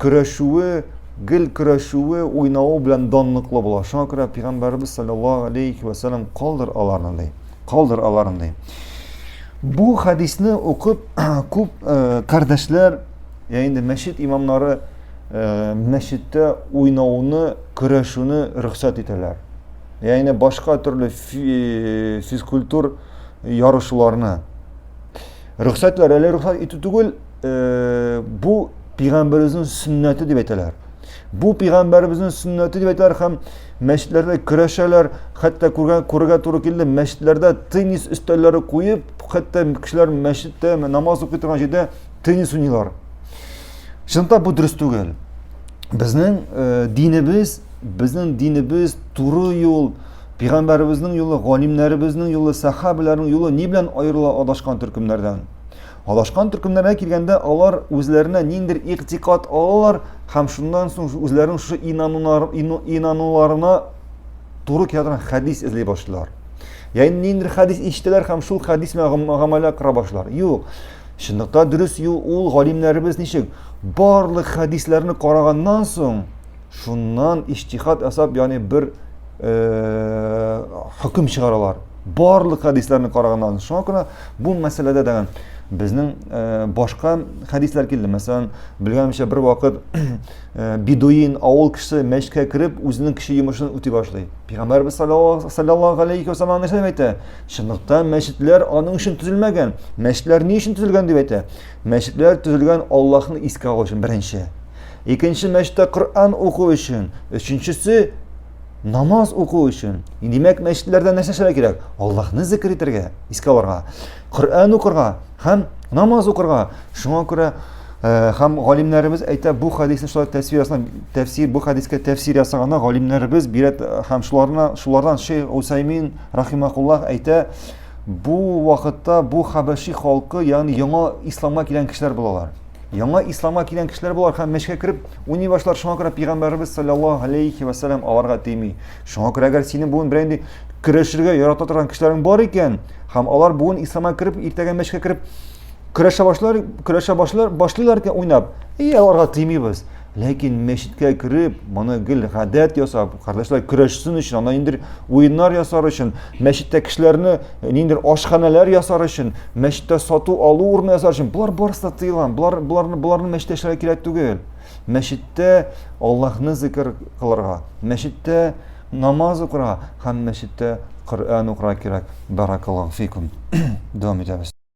көрәшүе, гел көрәшүе, уйнавы белән данлыклы була. Шуңа күрә пигамбәрбез саллаллаһу алейхи ва саллям калдыр аларны ди. Калдыр аларны ди. Бу хадисне укып күп э, кардәшләр, я инде мәчет имамнары э, мәчеттә уйнауны, көрәшүне рөхсәт итәләр. Я инде башка төрле э, физкультур ярышларны. Рөхсәтләр әле рөхсәт итү түгел, э, бу пигамбәребезнең сөннәте дип әйтәләр. Бу пигамбәребезнең сөннәте дип әйтәләр һәм мәчетләрдә көрәшәләр, хәтта күргән күргә туры килде, мәчетләрдә теннис өстәлләре куеп, хәтта кешеләр мәчеттә намаз укый торган җирдә теннис уйныйлар. Чынлыкта бу дөрес түгел. Безнең э, динебез, безнең динебез туры юл, пигамбәребезнең юлы, галимнәребезнең юлы, сахабаларның юлы ни белән аерыла адашкан төркемнәрдән? Адашкан төркемнәргә килгәндә, алар үзләренә ниндер игътикад алалар һәм шуннан соң үзләренең шушы инануларына туры килә торган хәдис эзли башлыйлар. Яни ниндер хәдис ишетәләр һәм шул хәдис белән гамәлгә кыра башлар. Юк. Чынлыкта дөрес юл ул галимнәребез ничек? Барлык хәдисләрне караганнан соң, шуннан иҗтихад ясап, яни бер хөкем чыгаралар. Барлык хәдисләрне караганнан соң, шуңа күрә Бу мәсьәләдә дә безнең э, башка хәдисләр килде. Мәсәлән, белгәнемчә бер вакыт э, бедуин авыл кешесе мәчкә кереп, үзенең кеше йомышын үти башлый. Пәйгамбәрбез саллаллаһу алейхи ва саллам нәрсә әйтә? Чынлыктан мәчетләр аның өчен төзелмәгән. Мәчетләр ни өчен төзелгән дип әйтә? Мәчетләр төзелгән Аллаһны искә алу өчен беренче. Икенче мәчеттә Коръән уку өчен, өченчесе намаз уку өчен димәк мәчетләрдә нәрсә эшләргә кирәк аллаһны зикер итәргә искә алырга коръән укырга һәм намаз укырга шуңа күрә э, һәм галимнәребез әйтә бу хәдисне шулай тәфсир тәфсир бу хәдискә тәфсир ясаганда галимнәребез бирә һәм шуларына шулардан шейх усаймин рахимакуллах әйтә бу вакытта бу хәбәши халкы ягъни яңа исламга килгән кешеләр булалар яңа исламга килгән кешеләр булар һәм мәчеткә кереп Уйный башлар, шуңа күрә пигамбәребез саллаллаһу алейхи ва саллям аларга тими. Шуңа күрә әгәр синең бүген берәр инде көрәшергә ярата торган кешеләрең бар икән, һәм алар бүген исламга кереп, иртәгә мәчкә кереп көрәшә башлар, көрәшә башлар, башлыйлар икән уйнап. И аларга тимибез. Ләкин мәчеткә кереп, моны гел гадәт ясап, кардәшләр көрәшсен өчен, анда инде уеннар ясар өчен, мәчеттә кешеләрне э, ниндидер ашханәләр ясар өчен мәчеттә сату алу урыны ясар өчен болар барысы да тыелган болар боларны боларны мәчеттә эшләргә кирәк түгел мәчеттә аллаһны зикер кылырга мәчеттә намаз укырга һәм мәчеттә коръән укырга кирәк баракаллаху фикум дәвам итәбез